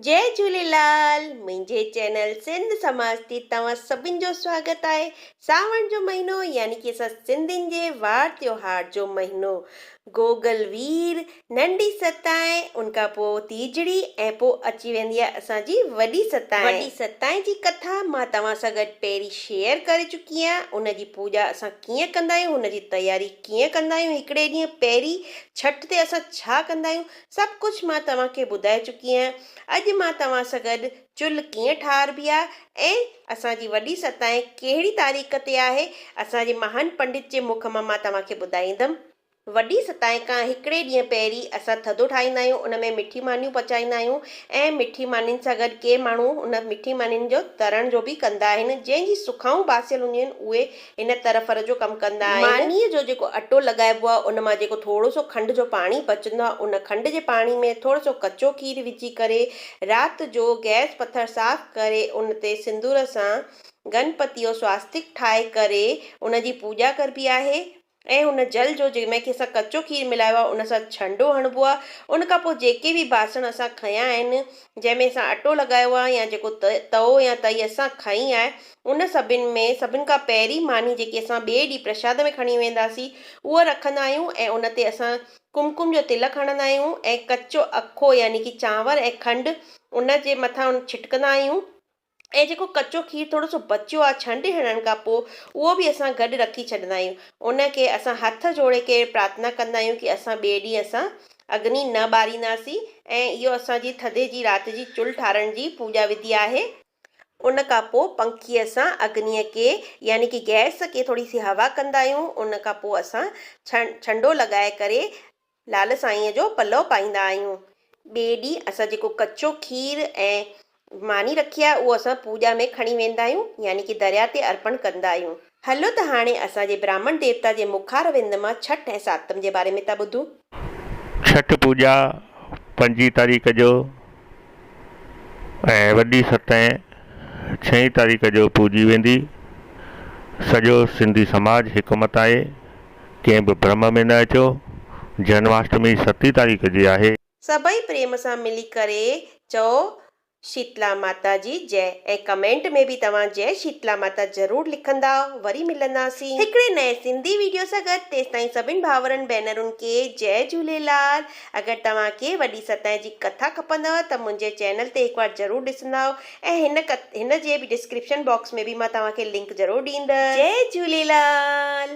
جئي جهوليلال منهنجي چينل سنڌ سماج تي توهان سڀن جو سواگت آهي ساوڻ جو مهينو يعني ڪي اسان سنڌين جي وار تيوهار جو مهينو گوگل وير ننڍي ستائين ان کان پو تيجڙي ۽ پو اچي ويندي آهي اسان جي وڏي ستائين وڏي ستائين جي ڪٿا مان توهان سان گڏ پهرين شيئر ڪري چڪي آهيان ان جي پوڄا اسان ڪيئن ڪندا آهيون ان جي تياري ڪيئن ڪندا آهيون هڪڙي ڏينهن پهرين ڇٺ تي اسان ڇا ڪندا آهيون سڀ ڪجهه مان توهان کي ٻڌائي چڪي آهيان. اڄ مان توهان سان گڏ چلهه ڪيئن ٺاهربي آهي ۽ اسان جي وڏي ستائين ڪهڙي تاريخ تي آهي، اسان جي مهان پنڊت جي مک مان مان توهان کي ٻڌائيندم. وڏي ستائين کان هڪڙي ڏينهن پهرين اسان ٿڌو ٺاهيندا آهيون، ان ۾ مٺي مانيون پچائيندا آهيون ۽ مٺي مانين سان گڏ ڪي ماڻهو ان مٺي مانين جو ترڻ جو به ڪندا آهن، جنهن جي سکائون باسيل هونديون آهن، اهي ان ترفر جو ڪم ڪندا آهن. مانيء جو جيڪو اٽو لڳائبو آهي ان مان جيڪو ٿورو سو کنڊ جو پاڻي بچندو آهي ان کنڊ جي پاڻي ۾ ٿورو سو ڪچو کير وجهي ڪري رات جو گئس پٿر صاف ڪري ان تي سندور سان گنپتي جو سواستڪ ٺاهي ڪري ان جي پوڄا ڪربي آهي ۽ ان جل جو جنهن ۾ اسان ڪچو کير ملايو آهي ان سان ڇنڊو هڻبو آهي ان کان پوء جيڪي به باسڻ اسان کنيا آهن جنهن ۾ اسان اٽو لڳايو آهي يا جيڪو تئو يا تئي اسان کنئي آهي ان سڀن ۾ سڀن کان پهرين ماني جيڪي اسان ٻئي ڏينهن پرشاد ۾ کڻي وينداسين، اها رکندا آهيون ۽ ان تي اسان ڪمڪم جو تلڪ هڻندا آهيون ۽ ڪچو اکو يعني ڪي چانور ۽ کنڊ ان جي مٿان ڇٽڪندا آهيون ۽ جيڪو ڪچو کير ٿورو سو بچيو آهي ڇنڊي هڻڻ کان پوء اهو به اسان گڏ رکي ڇڏندا آهيون. ان کي اسان هٿ جوڙي ڪري پرارٿنا ڪندا آهيون ڪي اسان ٻئي ڏينهن اسان اگني نه ٻارينداسين ۽ اهو اسان جي ٿڌي جي رات جي چلهه ٺارڻ جي پوڄا وڌي آهي. ان کان پوء پنکيء سان اگنيء کي يعني ڪي گئس کي ٿوري سي هوا ڪندا آهيون. ان کان پوء اسان ڇنڊو لڳائي ڪري لعل سائينء جو پلئو پائيندا آهيون. ٻئي ڏينهن اسان جيڪو ڪچو کير ۽ ماني رکي آهي اهو اسان پوڄا ۾ کڻي ويندا آهيون يعني ڪي درياء تي ارپڻ ڪندا آهيون. هلو ته هاڻي اسان جي براهمڻ ديوتا جي مکار وند مان ڇٺ ۽ ساتم جي باري ۾ ٿا ٻڌون. ڇٺ پوڄا پنجين تاريخ جو ۽ وڏي ستين ڇهين تاريخ جو پوڄي ويندي. سڄو سنڌي سماج هڪ مت آهي. ڪنهن به برم ۾ نه اچو. جنماشٽمي ستين تاريخ جي آهي. سڀئي پريم سان ملي ڪري چئو شيتلا ماتا جي جئ ۽ ڪمينٽ ۾ به توهان جئ شيتلا ماتا ضرور لکندا وري ملنداسين هڪڙي نئين سنڌي ويڊيو سان گڏ تيستائين سڀن ڀاورن ڀينرن کي جئ جهوليلال اگر توهان کي وڏي ستائين جي ڪٿا کپندؤ ته منهنجي چينل تي هڪ وار ضرور ڏسندا ۽ هن ڪٿ هن جي به ڊسڪرپشن باڪس ۾ به مان توهان کي لنڪ ضرور ڏيندس جئ جهوليلال.